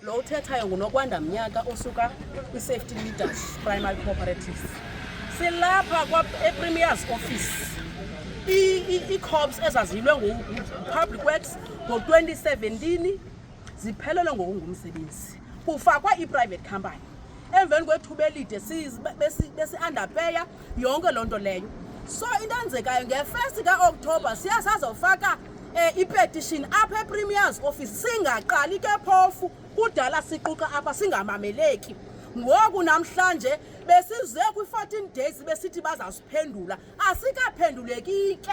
Lo uthethayo nguNokwanda Mnyaka osuka kwi-Safety Leaders Primary Cooperative. Silapha ePremier's office ii-corps ezaziyilwe nguPublic Works ngo-2017 ziphelelwe ngokungumsebenzi kufakwa i-private company emveni kwethuba elide besi-underpeya si, yonke loo nto leyo so into enzekayo ngefesti kaokthobha siya sazofaka um ipetishini apha epremiers office singaqali ke phofu kudala siquqa apha singamameleki ngoku namhlanje besize kwi-14 days besithi bazasiphendula asikaphenduleki ke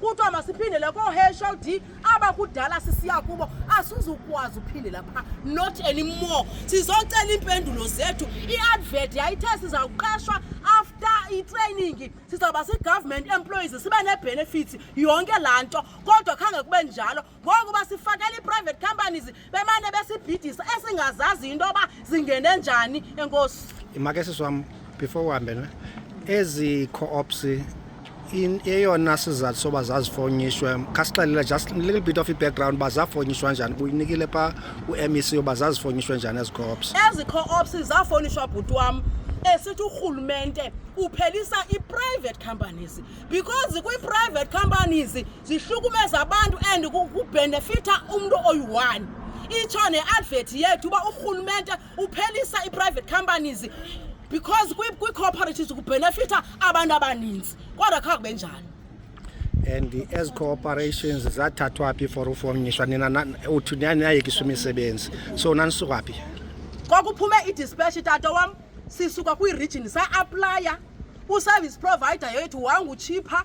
kuthiwa masiphindele koo-hld abakudala sisiya kubo asizukwazi uphindela phaa not anymore sizocela iimpendulo zethu iadvert yayithe sizawuqeshwa after itraining sizawuba si-government employees sibe nee-benefits yonke laa nto kodwa khange kube njalo ngoku basifakela ii-private companies bemane besibhidisa esingazazi into yoba zingene njani enkosi imake sisi wam before uhambe ne ezi co-ops eyona sizathu soba zazifonyishwe khasixelela just little bit of i-background uba zafonyishwa njani uyinikile phaa u-m e c uba zazifonyishwe njani ezi co-ops ezi co-ops zafonyishwa bhuti wam esithi urhulumente uphelisa i-private companies because kwi-private companies zihlukumeza abantu and kubhenefitha umntu oyi-one itsho ne-advert yethu uba urhulumente uphelisa ii-private companies because kwii-cooperatives kubhenefitha abantu abaninzi kodwa kha kube njani and ezi cooperations zathathwa phi for ufomnyiswa nina uthi niyayekiswa imisebenzi so nanisuka phi kwakuphume idispatch tata wam sisuka kwiirijini sa-aplaya uservice provider yethu wangutshipha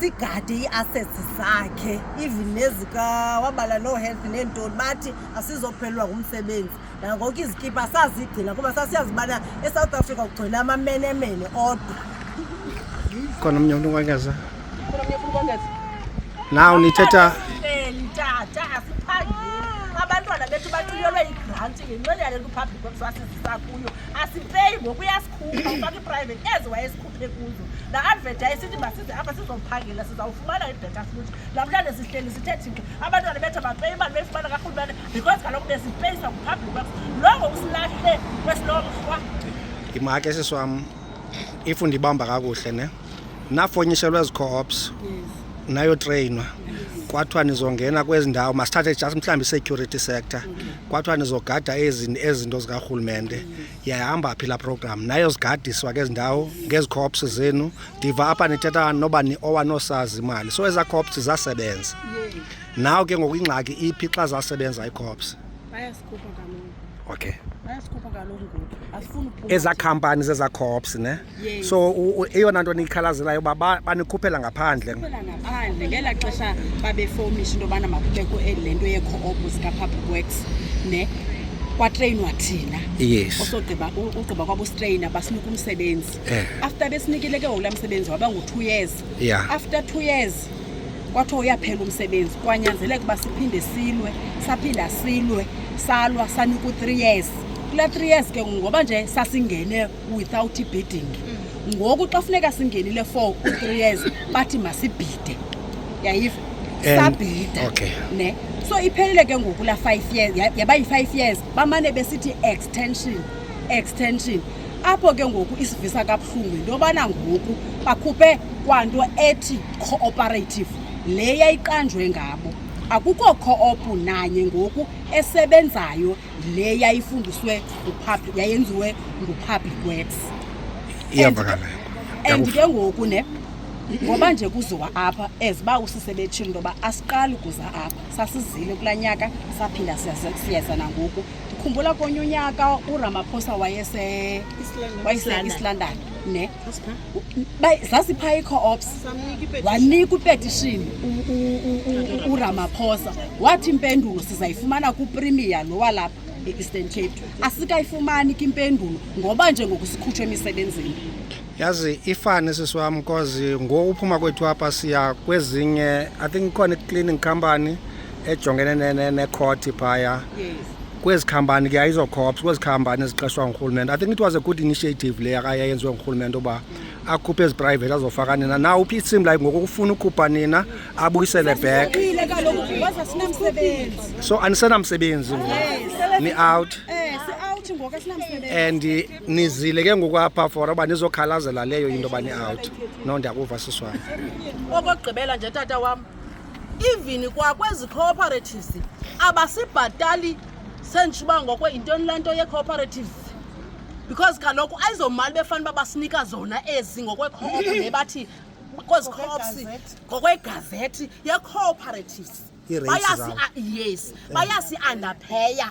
sigade ii-assets zakhe even nezikawabala no health neentoni bathi asizophelelwa ngumsebenzi nangoko izikipa sazigcina kuba sasiyazi ubana esouth africa kugcina amamenemene odwa khona omnye umntu unkwangaza naw nithetha tata asiphangeli abantwana bethu bathunyelwe igranti ngenxeni yale nto upublic websasizisa kuyo asipeyi ngoku uyasikhupha ufaka iprivate ezi wayesikhu aphe kuzo la advert ayisithi masize apha sizophangela sizawufumana ibheta futhi namhlanje sihleli sithe thina abantwana bethu bapeyi imali beyifumana karhulumane because kaloku besipeyisa kupublic works longo usilahle kwesilomrhwa ndimake sisi wam if ndibamba kakuhle ne nafonyishelwa ezi-coops nayotreyinwa kwathiwa nizongena kwezi ndawo masithathe just mhlawumbi i-security sector kwathiwa nizogada ezi ezinto zikarhulumente yayihamba phi la program nayo zigadiswa ke zindawo ngezi cops zenu ndiva apha nithetha noba ni owanosazi imali so eza cops zasebenza nawo ke ngoku ingxaki iphi xa zasebenza icops bayasikhupha kaloku okay bayasikhupha kaloku ngoku asifuni eza companies eza cops ne Yes. so u- u- eyona nto niyikhalazelayo uba ba- banikhuphela ngaphandle Phela ngaphandle ngela xesha babefomisha into yobana makubekho eli- le nto yee-co-op zika-public works ne kwatreyinwa thina yes osogqiba u- ugqiba kwabostreyina basinika umsebenzi Eh. after besinikile ke ngoku laa msebenzi waba ngu-two years Yeah. after two years kwathiwa uyaphela umsebenzi kwanyanzeleka uba siphinde silwe saphinda silwe salwa sanika u-three years kulaa three years ke ngoku ngoba nje sasingene without bidding mm. ngoku xa funeka singenile for three years bathi masibhide yayiva sabhida okay. ne so iphelile ke ngoku la five years yaba yi-five years bamane besithi extension extension apho ke ngoku isivisa kabuhlungu yinto yobana ngoku bakhuphe kwanto ethi cooperative le yayiqanjwe ngabo akukho co-op nanye ngoku esebenzayo le yayifundiswe ngupublic yayenziwe ngupublic works iyavakala and ke ngoku ne ngoba nje kuziwa apha as uba usisebetshini into yoba asiqali ukuza apha sasizile kulaa nyaka saphinda siyeza nangoku ndikhumbula konye unyaka uramaphosa wayese wayeselondon ne zasipha ii-co-ops wanika upetishini uramaphosa wathi impendulo sizayifumana kuprimiya lo walapha e-eastern cape asikayifumani ke impendulo ngoba nje ngoku sikhutshwa emisebenzini yazi ifane sisi wam cause ngoku uphuma kwethu apha siya kwezinye i think ikhona i-cleaning company ejongene nekhothi phaya kwezi khampani ke ayizokhopsa kwezi khampani eziqeshwa ngurhulumente i think it was a good initiative le akayayenziwe ngurhulumente uba mm. akhuphe ezi private azofaka nina na uphi it seem like ngoku kufuna ukhupha nina abuyisele back so anisenamsebenzi ni out and nizile ke ngoku apha for uba nizokhalazela leyo into yoba ni-out no ndiyakuva siswana okokugqibela nje tata wam even kwakwezi cooperatives abasibhatali sentsho uba ngokwe yintoni le nto yecooperative because kaloku ayizomali befana uba basinika zona ezi ngokwekhop le bathi kwezi cops ngokwegazethi yecooperative Ii-rates zabo. bayasi yes bayasi-andapheya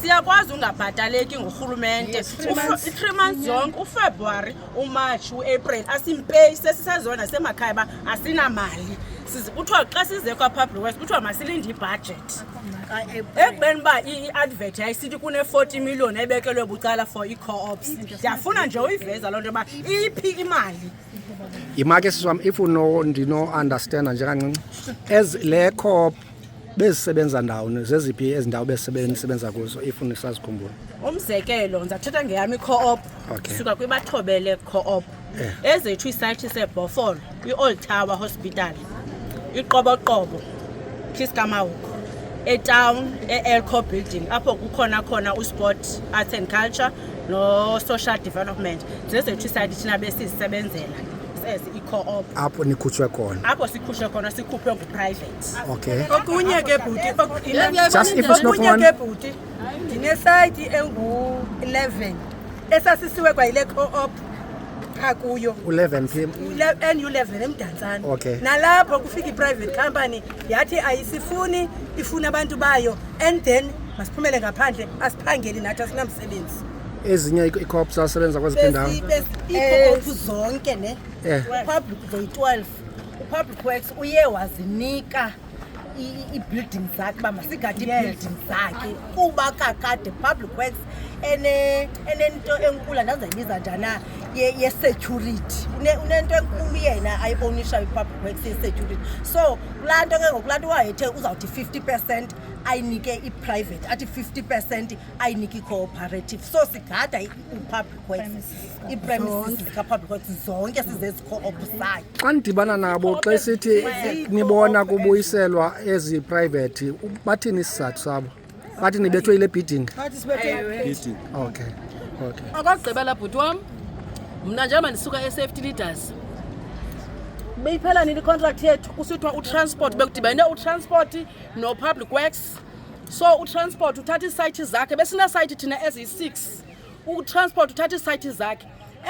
siyakwazi ungabhataleki ngurhulumente i-three months yonke ufebruwari umarch uapril asimpeyi sesisezona semakhaya uba asinamali kuthiwa xa size kwapublic west kuthiwa masilinde ibhajethi ekubeni uba i-advert yayisithi kune-forty million ebekelwe bucala for ii-coops ndiyafuna nje uyiveza loo nto yoba iphi imali yimake siswam if ndino-understanda njengancinci as le coop bezisebenza ndawoni zeziphi ezi ndawo besisebenza kuzo if nisazikhumbula umzekelo ndizathetha ngeyam i-coop okay. suka kwibathobele coop yeah. ezethu isayithi sebhofol kwi-old tower hospital iqoboqobo khiskamawuko etown e-elco building apho kukhona khona usport arts and culture no-social development zezethu isayithi thina besizisebenzela sezi i-coop apho nikhutshwe khona apho sikhutshwe khona sikhuphe ngu-private Okay. Okunye ke bhuti okunye- Just if it's not okunye one- ke bhuti ndinesayiti engu-11 esasisiwe kwayile co-op pha kuyo U11 phi? nu-11 emdantsane Okay. nalapho kufika i-private company yathi ayisifuni ifuna abantu bayo and then masiphumele ngaphandle asiphangeli nathi asinamsebenzi Ezinye i-cops asebenza kweziphi indawo? Besi- besi- iikhophu zonke ne Eh. public zoyi-12 upublic works uye wazinika ii-building zakhe uba masigade ii-building zakhe kuba kakade public works enento enkulu andazayibiza njani na yesecurity unento enkulu yena ayibonishayo i-public works yesecurity so kulaa nto ke ngoku laa nto wayethe uzawuthi 50 percent ayinike i-private athi 50 percent ayiniki cooperative so sigada i-public works ii-premises zika-public works zonke sizezico-op sayo xa nidibana nabo xa sithi nibona kubuyiselwa ezi private u- bathini isizathu sabo bathi nibethwe yile bidding Bathi sibethe Ewe. okay okay okokugqibela bhuti wam mna njengoba ndisuka e-safety leaders beyiphela nini icontract yethu kusithiwa utransport bekudibane utransport nopublic works so utransport uthatha iisayithi zakhe besineesayithi thina eziyi-six utransport uthatha iisayithi zakhe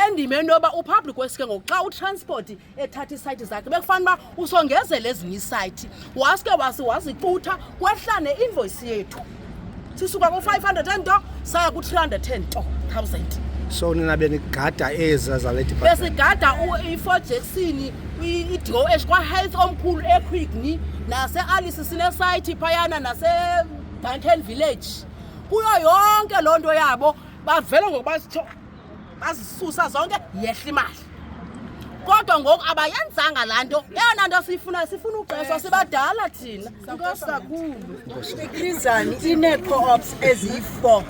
endima into yoba upublic wesi ke ngoku xa utransport ethatha iisayithi zakhe bekufana uba usongezela ezinye iisayithi waske wazicutha kwehlane invoyisi yethu sisuka ku-five hundred and saa ku-310000 so nina benigada eza zale department besigada u- i-four jackson i-doh kwahealth omkhulu equickni nase-alice sinesayithi phayana nasedanken village kuyo yonke loo nto yabo bavele ngokuba sitsho bazisusa zonke yehla imali kodwa ngoku abayenzanga laa nto eyona nto siyifuna sifuna uxeswa sibadala thina inkosi kakhulu ikrizani inee-coops eziyi-four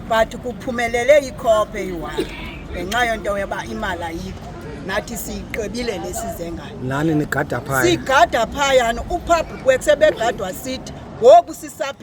but kuphumelele ikhophe eyi-one ngenxa yonto yoba imali ayikho nathi siyiqebile lesizengayo nani nigada phaya sigada phayana upublic work sebegadwa sithi ngoku sisaphi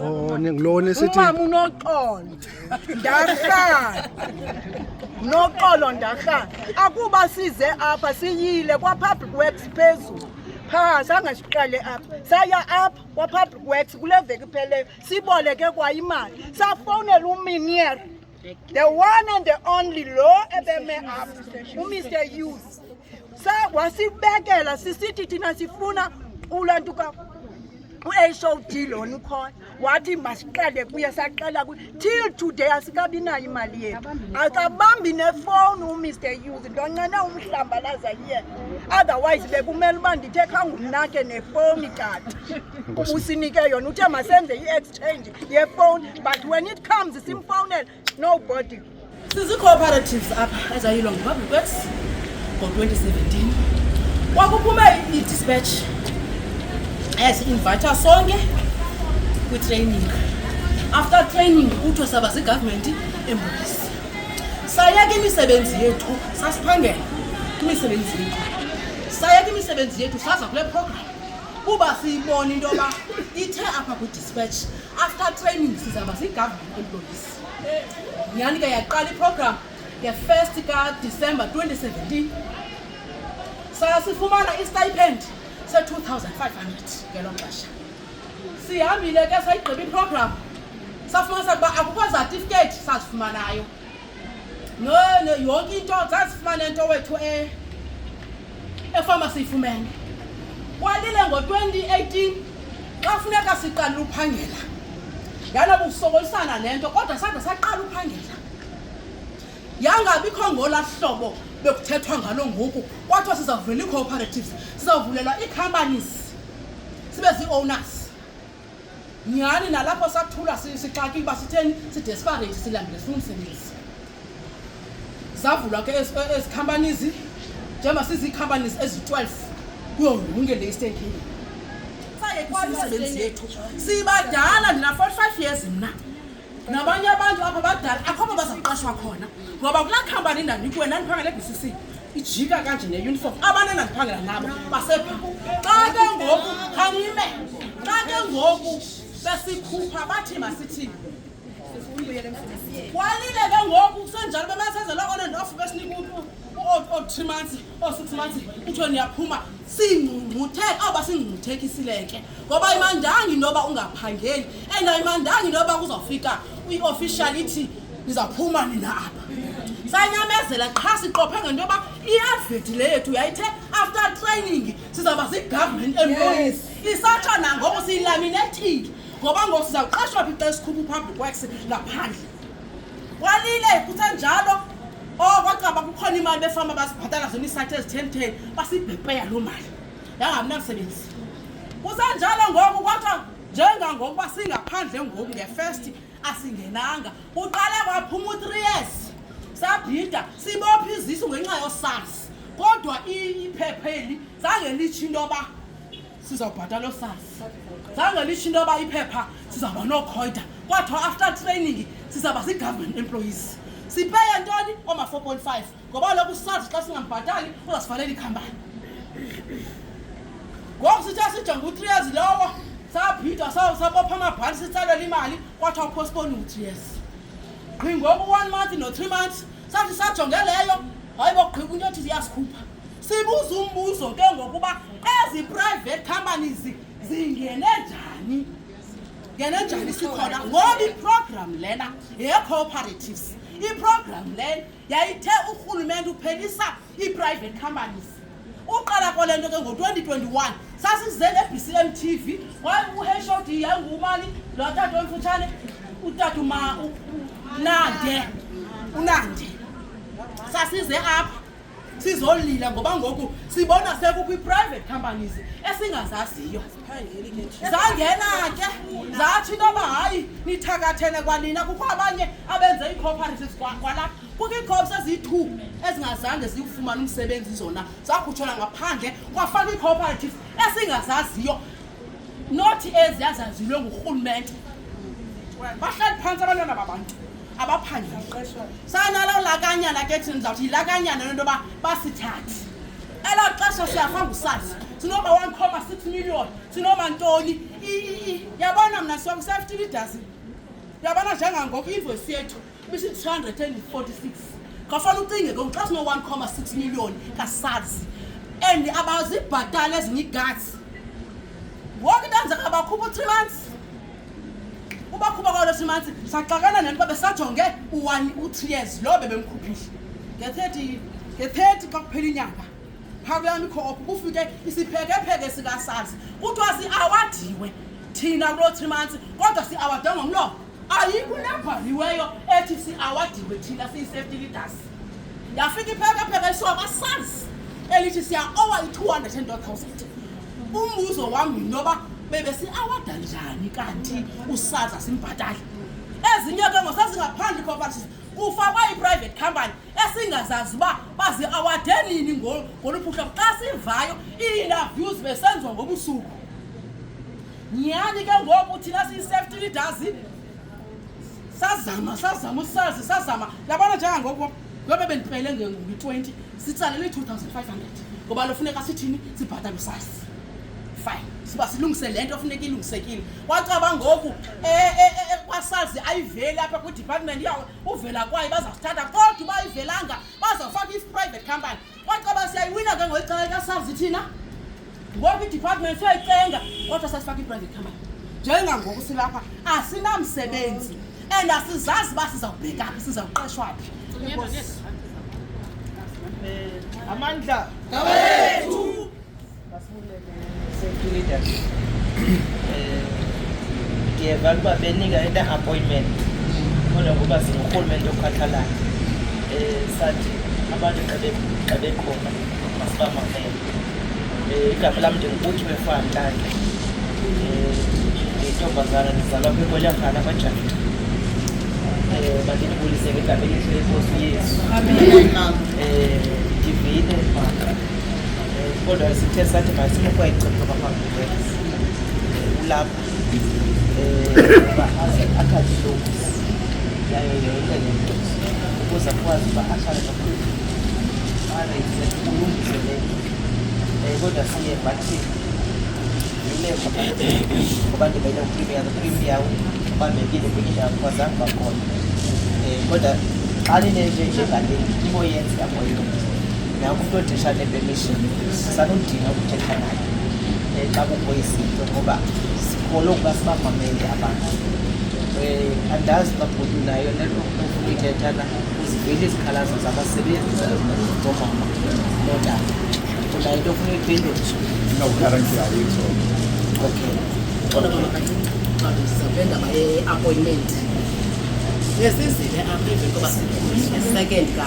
Oh, ngilona esithi umama unoxolo ndahlala noxolo ndahlala akuba size apha siyile kwa-public works phezulu phaa zange siqale apha saya apha kwa-public works kule veki ipheleyo siboleke kwa imali safowunela uminier the one and the only lo ebeme apha umr youth sa wasibekela sisithi thina sifuna ulantuka u-hod lona ukhona wathi masiqale kuye saqala kuye till today asikabi nayo imali yethu akabambi nefowuni umr use ndoncene umhlambalaza iye otherwise bekumele uba ndithe khangumnakhe nefowuni kati usinike yona uthe masenze i-exchange yefowuni but when it comes simfowunela nobody sizi-cooperatives apha ezayilwa ngupublic works ngo-2017 kwakuphume i-dispatch yasi-invayitha sonke kwitraining after training kuthiwa saba zigovernment embulisi sayeka imisebenzi yethu sasiphangela imisebenzi yethu sayeka imisebenzi yethu saza kule program kuba siyibona into yoba ithe apha kwidispatch After training sizaba ziyi-government employees. Nyhani ke yaqala iprogram nge-first kadecember 2017 sasifumana istipend se-2500 ngelo xesha sihambile ke sayigqiba iprogram safumanisa ukuba akukho zatifiketi sazifumanayo no no yonke into zazifumane into wethu e efama siyifumene kwalile ngo-2018 xa funeka siqalile uphangela yaloba usokolisana le nto kodwa sade saqala uphangela yangabikho ngola hlobo bekuthethwa ngalo ngoku kwathiwa sizavula ii-cooperatives sizavulelwa ii-companies sibe zii-owners nyhani nalapho sathula sixakile uba sitheni sidesperate silambile sifuna umsebenzi zavulwa ke ezi companies njengoba siziicompanies ezi-12 kuyo yonke le eastern kenya sayekwalusebenzi yethu sibadala ndina-45 years mna nabanye abantu apha badala akho apho bazaqashwa khona ngoba kulaa khampani ndandikuwe ndandiphangela ebcc ijika kanje neuniform abantu endandiphangela nabo basepha xa ke ngoku khangime xa ke ngoku besikhupha bathi masithini kwalile ke ngoku kusenjalo bebasenzelwa on and off besinika u-three months oosixumathi kuthiwe niyaphuma singcungcutheke awuba singcungcuthekisile ke ngoba imandanga intoba ungaphangeli and ayimandanga intoba kuzawufika i-official ithi nizawuphuma nina apha sanyamezela qha siqophe ngento yoba iadveti le yethu yayithe after training sizawuba zigovernment employees isatsha nangoku siyilaminethile ngoba ngoku sizawuqashwa phi xa esikhupha upublic works ngaphandle walile kusenjalo o oh, kwacaba kukhona imali befama basibhatala zona iisathi ezitheni theni basibhepeya loo mali yangamnamsebenzi kusenjalo ngoku kwathiwa njengangokuba singaphandle ngoku ngefesti asingenanga uqale kwaphuma u-three years sabhida sibopha izisu ngenxa yosazi kodwa iphepha eli zange litsho into yoba sizawubhatala osasi zange lisho into yoba iphepha sizawuba nookhoyda kwathiwa after training sizawuba zii-government employees sipeye ntoni oma-four point five ngoba loku sazi xa singambhatali uzasivalela ikhampani ngoku sithe sijonga u-three years lowo saphithwa sabopha amabhali sitsalele imali kwathiwa upostpone u-three years qhi ngoku one month no-three months sathi sajonge leyo hayi bogqiba into yothi ziyasikhupha sibuza umbuzo ke ngokuba ezi private companies zingene njani ngene njani sikhona ngoba iprogram lena yee-cooperatives iprogram lena yayithe urhulumente uphelisa ii-private companies uqala kwale nto ke ngo-2021 sasize ne-bcm t v uhod yangumani lo tata omfutshane utata unande unande sasize apha sizolila ngoba ngoku sibona sekukwi-private companies esingazaziyo zangena ke zathi into yoba hayi nithakathene kwanina kukho abanye abenze ii-cooperatives kwalapha kukho iicops eziyi-two ezingazange zikufumane umsebenzi zona zakhutshelwa ngaphandle kwafaka ii-cooperatives esingazaziyo nothi eziyazaziwe ngurhulumente bahlali phantsi abantwana babantu abaphangeli sanalo lakanyana ke thina ndizawuthi yilakanyana lento yoba basithathe elo xesha siyafa ngusazi sinoma one comma six million sinoma ntoni yabona mna siwa ku-safety idazi yabona njengangoku invoice yethu bisi-two hundred and forty-six ngafana ucinge ke xa sino-one comma six million kasazi and abazibhatali ezinye igatsi woke into enzeka bakhupha u-three months ubakhuba kwalo simanzi saxakana nento babe sajonge u-one u-three years loo bebemkhuphile nge-thirty nge-thirty xa kuphela inyanga phaa kuyam ikhophu kufike isiphekepheke sikasazi kuthiwa siawadiwe thina kuloo three months kodwa siawadwe ngomlomo ayikho nebhaliweyo ethi siawadiwe thina siyi-safety leaders yafika iphekepheke iswaba sazi elithi siya-owa i-two hundred and thousand umbuzo wam yinto yoba bebesi awada njani kanti usaza simbhatali ezinye ke ngosazingaphandle cooperative kufakwa i-private company esingazazi uba bazi-awade nini ngoluphuhla xa sivayo ii-interviews besenziwa ngobusuku nyhani ke ngoku thina siyi-safety leaders sazama sazama usazi sazama yabona njengangoku Ngoba bendipele nge-20 sitsalele 2500 ngoba lofuneka sithini sibhatale usasi fine siba silungise le nto funeka ilungisekile wacaba ngoku e, e, e, kwasazi ayiveli apha kwidepartment yawo uvela kwayo bazasithatha kodwa uba ayivelanga bazawufaka i-private company Kwacaba siyayiwina ke ngeli cala kasazi thina. Ngoku i-department siyayicenga kodwa sasifaka i-private company. Njengangoku silapha asinamsebenzi and asizazi uba sizawubheka phi sizawuqeshwa phi. Enkosi. Amandla. Ngawethu. ndiyevala uba benika into appointment kodwa ngoba singurhulumente okhathalana um sathi abantu xa bekhona masibamamele um eh, igama lam ndingubuthiwe fantlake um eh, ndiyintombazana ndizalwa kwikolyakhana kwajafta um eh, bandinibulise ngegama elihle enkosi yesu um ndivile maka kodwa sithe sathi masimukwayicimba kwaphambili ulapha uba aze akhale lobisi yayo yonke le nto ukuze akwazi uba akhale kakhulu areise ulungise le um kodwa siye bathi yileko ngoba ndibele uprimiya uprimiya ubambekile kwenye ndawo kwazange bakhona um kodwa xa linenje njengaleni iboyenzi yamoyona Nakufundisha le permission sanudinga ukuthetha naye eh, xa kukho izinto ngoba sikholwa ukuba sibamamele abantu um andazi uba bhuti nayo nento ofuna ithetha na uzivile izikhalazo zabasebenzi zomama notata unayo into ofuna uyiphendulisa no currently ayikho okay cona bona kayixabisa kule ndaba ye-appointment ngesizile apha emveni koba second ka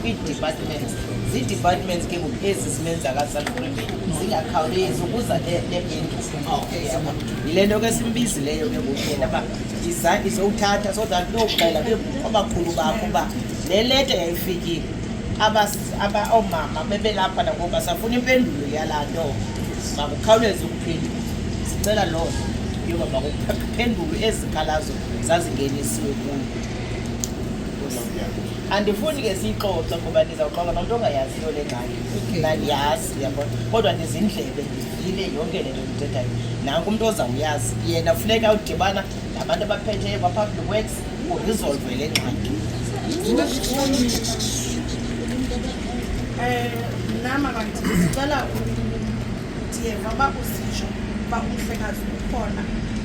kwii-departments zii-departments ke ngoku ezi simenzakasanremeni zingakhawulezi ukuza yile nto ke simbizileyo ke ngoku yena uba izandla izowuthatha so that looxela ke abakhulu bakho uba le leta yayifikile oomama bebelapha nangoku basafuna impendulo yalaa nto makukhawuleze ukuphendula sicela loo nto yoba makuphendulwe ezikhalazo zazingenisiwe kuyo andifuni ke siyixoxe ngoba ndizawuxoxa nomntu ongayaziyo le ngxaki nandiyazi yabo kodwa ndizindlebe ndivile yonke le nto ndithethayo nanku umntu ozawuyazi yena funeka udibana nabantu abaphetheyo kwa-public works urizolve le ngxaki mnama eh, kanti ndicela ndiyeva uba usitsho uba umhlekazi ukhona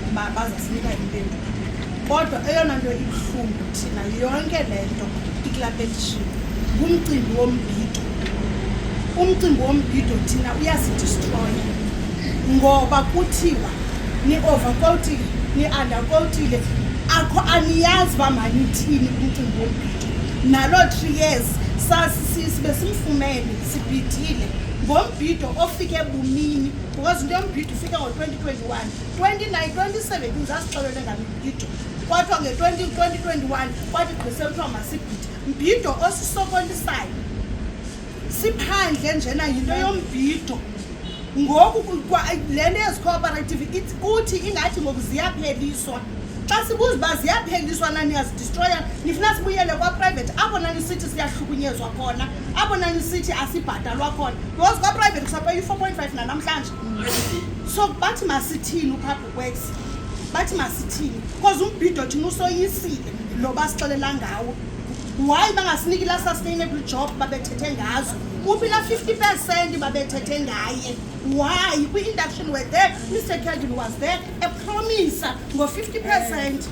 uba bazasinika impendulo Kodwa eyona nto ibuhlungu thina yonke le nto iklapetishini ngumcimbi wombhido. Umcimbi wombhido thina uyasidistroya ngoba kuthiwa ni-overcoatile ni-undercoatile akho aniyazi uba manithini umcimbi wombhido naloo three years sasisibe simfumene sibhidile ngombhido ofike bumini because into yombhido ufike ngo-2021 29 27 ndizasixelele ngamibhido kwathiwa nge-2021 kwathi gqisele kuthiwa masibhide mbhido osisokolisayo siphandle njena yinto yombhido ngoku le nto yezicooperative kuthi ingathi ngoku ziyapheliswa xa sibuza uba ziyapheliswa na niyazidistroya nifuna sibuyele kwaprivate apho nanisithi siyahlukunyezwa khona apho nanisithi asibhatalwa khona because kwaprivate kusapela i-four point five nanamhlanje so bathi masithini upublic works bathi masithini because umbhido thina usoyisile lo basixelela ngawo why bangasiniki la sustainable job babethethe ngazo uphi la 50 percent babethethe ngaye why kwi-induction were there mr kelvin was there epromisa ngo-50 percent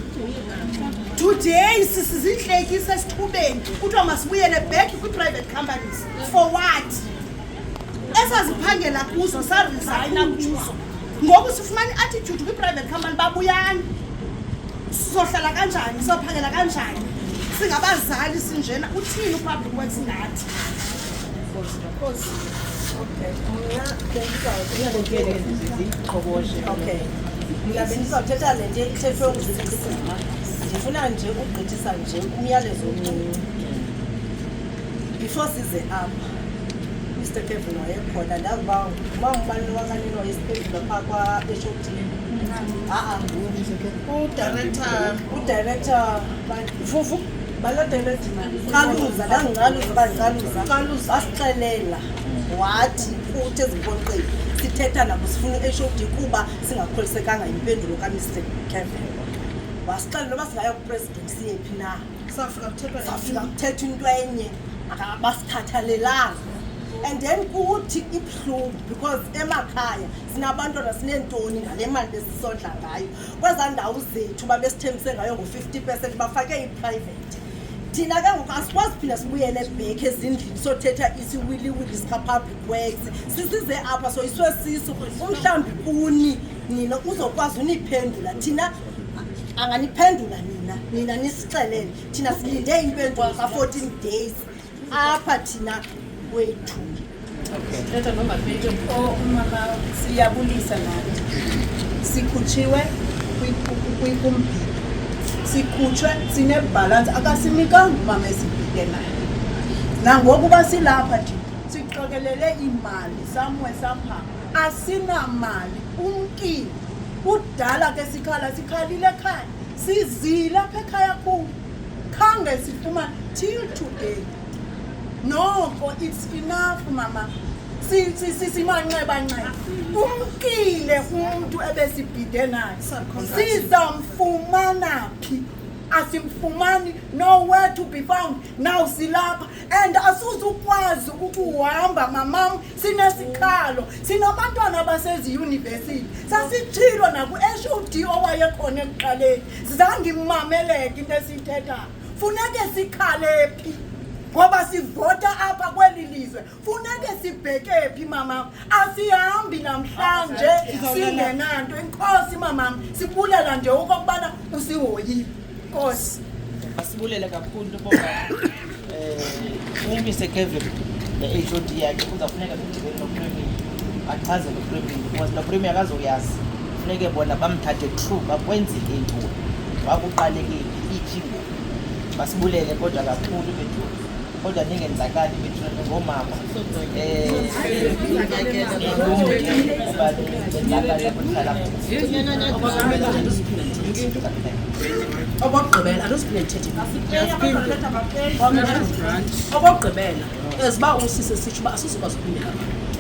today sisizintlekisa esithubeni kuthiwa masibuyele back kwi-private companies for what esaziphangela kuzo sarisayina kuzo ngoku sifumana i-attitude kwi-private company babuyani sizohlala kanjani sizophangela kanjani singabazali sinjena uthini upublic works ngathi okay mna bendizawuthetha le nto ithethwe ngusisima ndifuna nje ukugqithisa nje umyalezo omncinci before size apha mr kevin wayekhona ndazi uba uba ngubani wakanelo esiphendula phaa kwaeshoptini aa udirector udirector fufu baladeredimalicaluza ndangicaluza bandicaluza caluza asixelela wathi uthi ezimpoqeni sithetha nabo sifuna u-hod kuba singakholisekanga yimpendulo kamr kevin wasixelela uba singayo kupresident siyephi na kusafika kuthethwa safika kuthethwa into enye akabasithathalelanga and then kuthi ibuhlungu because emakhaya sinabantwana sineentoni ngale mali besisondla ngayo kwezaa ndawo zethu babesithembise ngayo ngo-fifty percent bafake iprivate thina ke ngoku asikwazi phinda sibuyele back ezindlini sothetha isiwiliwili sikapublic works sisize apha soyiswe siso umhlawumbi kuni nina uzokwazi uniphendula thina anganiphendula nina nina nisixelele thina silinde impendulo za-fourteen days apha thina wethu thetha nomapeti oh, umama siyabulisa naye sikhutshiwe kumbhibho sikhutshwe sinebhalansi akasinikanga umama esibhile naye nangokuba silapha thina siqokelele iimali samwe saphanga asinamali umkile kudala ke sikhala sikhalile ekhaya sizile apha ekhaya kuwo khange sifumane till today noko it's enough mama simanxebanxeba umkile umntu ebesibhide naye sizamfumana phi asimfumani nowhere to be found now silapha and asuzukwazi ukuhamba mamam Sinesikhalo, sinabantwana abaseziyunivesiti. Sasitshilo naku-HOD owayekhona ekuqaleni, zange imameleke into esiyithethayo. Funeke sikhale phi? Ngoba sivota apha kweli lizwe. Funeke sibheke phi mama? Asihambi namhlanje singenanto. Inkosi mama, sibulela nje okokubana usihoyile. Inkosi. Asibulele kakhulu bonke. Umise Kevin the HOD yakhe kuzafuneka kudibene nopremier bachazele upremier because nopremier akazoyazi funeke bona bamthathe true bakwenzile intoni wakuqalekile iphi ngoku basibulele kodwa kakhulu bethu kodwa ningenzakali bethu ngoomama um okokugqibela as uba usise sitsho uba asizokwazi ukumbeka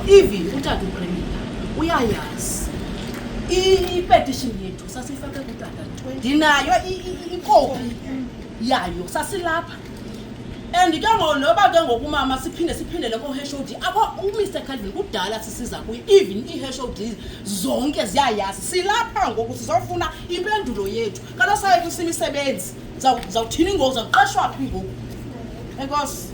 even utata upremila uyayazi ipetishini yethu sasiyifake kutata ndinayo ikopi yayo sasilapha and ke ngo noba ke ngokumama siphinde siphindele koheshod akho umr calvin kudala sisiza kuye even iheshod zonke ziyayazi silapha ngoku sizofuna impendulo yethu Qala sayo kusimisebenzi. Zawuthini ngoku zawuqeshwa phi ngoku? Enkosi.